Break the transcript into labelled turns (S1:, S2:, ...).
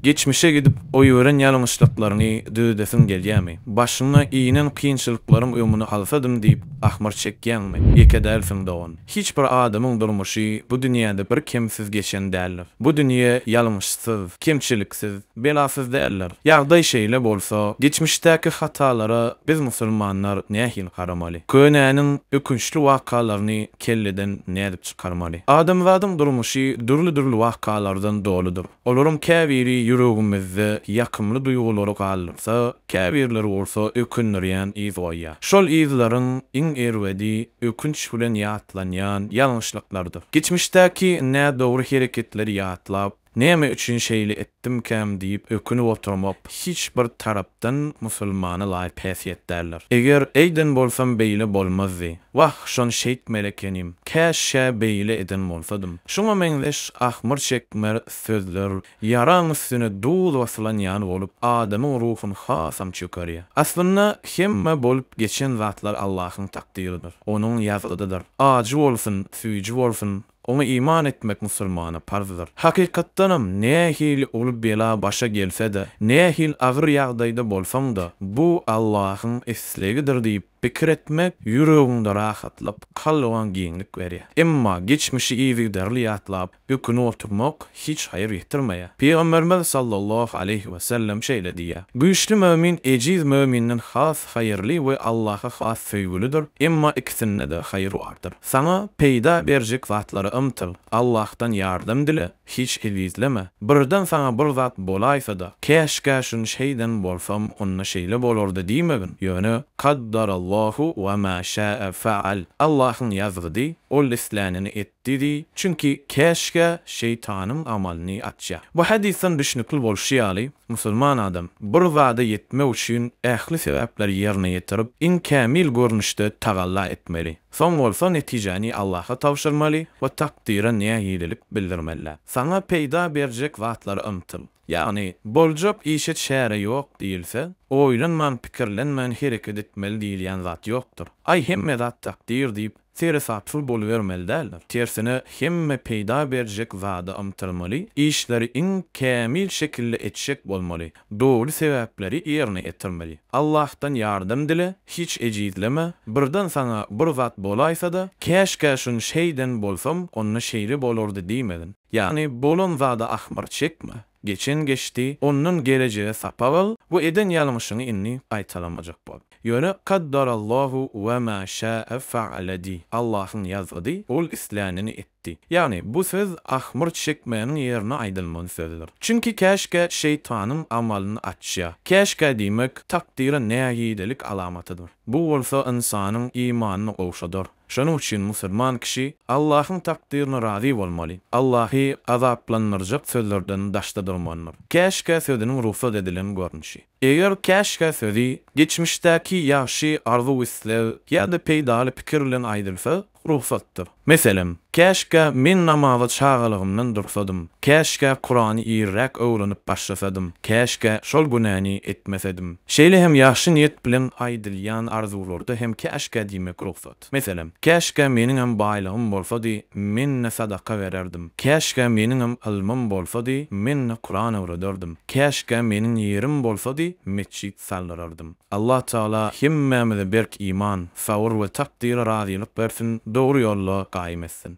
S1: Geçmişe gidip, goýberen ýalňyşlyklaryňy düzedesiň gelýärmi? Başyňa inen kynçylyklaryň öňüni alsadym diýip, ahmyr çekýäňmi? Ýeke dälsiň, dogan. Hiç bir adamyň durmuşy bu dünýäde bir kemsiz geçen däldir. Bu dünýä ýalňyşsyz, kemçiliksiz, belasyz däldir. Ýagdaý şeýle bolsa, geçmişdäki hatalara biz musulmanlar nähili garamaly? Könäniň ökünçli wakalaryny kelleden nädip çykarmaly? Adamzadyň durmuşy dürli-dürli wakalardan doludyr. Olaryň käbiri ýüregimizde ýakymly duýgulary galdyrsa, käbirleri bolsa ökündirýän yz goýýar. Şol yzlaryň iň erbedi ökünç bilen ýatlanýan ýalňyşlyklardyr. Geçmişdäki nädogry hereketleri ýatlap, Näme üçin şeýle etdimkäm diýip ökünip oturmak hiç bir tarapdan musulmana laýyk häsiýet däldir. Eger eýden bolsam beýle bolmazdy. Wah, şony şeýtmeli ekenim. Käşgä beýle eden bolsadym. Şuňa meňzeş ahmyr çekmer sözler ýaraň üstüne duz basylan ýaly bolup, adamyň ruhuny hasam çökerýär. Aslynda, hemme bolup geçen zatlar Allahyň takdyrydyr. Onuň ýazgydydyr. Ajy bolsun, süýji bolsun, Oňa iman etmek musulmana parzdyr. Hakykatdanam, nähili uly bela başa gelse-de, nähili agyr ýagdaýda bolsaň-da, bu Allahyň islegidir diýip pikir etmek ýüregiňde rahatlyk, kalbyňa giňlik berýär. Emma geçmişi yzygiderli ýatlap, ökünip oturmak hiç haýyr getirmeýär. Pygamberimiz sallallahu aleýhi we sellem şeýle diýýär, Güýçli mömin ejiz möminden has haýyrly we Allaha has söýgülidir, emma ikisinde-de haýyr bardyr. Saňa peýda berjek zatlara ymtyl, Allahdan ýardam dile, hiç ezizleme. Birden saňa bir zat bolaýsa-da, Käşgä şuny şeýden bolsam, onda şeýle bolardy diýmegin, ýöne, Kaddarallahu we ma şa'a faal, Allahyň ýazgydy, Ol islänini etdi diý, çünki käşgä şeýtanyň amalyny açýar. Bu hadysdan düşnükli bolşy ýaly, musulman adam bir zada ýetmek üçin ähli sebäpleri ýerine ýetirip, iň kämil görnüşde tagalla etmeli. Soň bolsa netijäni Allaha tabşyrmaly we takdyra nägilelik bildirmeli. Saňa peýda berjek zatlara ymtyl. Ýagny, boljak işe çäre ýok diýilse, oýlanman, pikirlenmän hereket etmeli diýilýän zat ýokdur. Aý, hemme zat takdyr diýip, seresapsyz bolubermeli däldir. Tersine, hemme peýda berjek zada ymtylmaly, işleri iň kämil şekilde etjek bolmaly. Doly sebäpleri ýerine ýetirmeli. Allahdan ýardam dile, hiç ejizleme, birden saňa bir zat bolaýsa-da, käşgä şuny şeýden bolsam, onda şeýle bolardy diýmegin. Ýagny bolan zada ahmyr çekme. Geçen geçdi, ondan gelejege sapak al we eden ýalňyşyňy indi gaýtalamajak bol. Ýöne Kaddarallahu we ma şa'a faala diý, Allahyň ýazgydy, ol islänini etdi. Di. Ýagny, bu söz ahmyr çekmäniň ýerine aýdylmaly sözdür. Çünki käşgä şeýtanyň amalyny açýar. Käşgä diýmek, takdyra nägilelik alamatydyr. Bu bolsa ynsanyň imanyny gowşadar. Şonuň üçin musulman kişi Allahyň takdyryna razy bolmaly, Allahy azaplandyrjak sözlerden daşda durmalydyr. Käşgä sözüniň rugsat edilen görnüşi. Eger käşgä sözi geçmişdäki ýagşy arzuw-isleg ýa-da peýdaly pikir bilen aýdylsa, rugsatdyr. Meselem, Käşgä men namaza çagalygymdan dursadym, käşgä Kurany irräk öwrenip başlasadym, käşgä şol günäni etmesedim. Şeýle hem ýagşy niýet bilen aýdylýan arzuwlarda hem käşgä diýmek rugsat. Meselem, Käşgä meniňem baýlygym bolsady, men-de sadaka bererdim. Käşgä meniňem ylmym bolsady, men-de Kuran öwrederdim. Käşgä meniň ýerim bolsady, metjit saldyrardym. Allah Tagala hemmämize berk iman, sabyr we takdyra razylyk bersin, dogry ýolda gaýym etsin.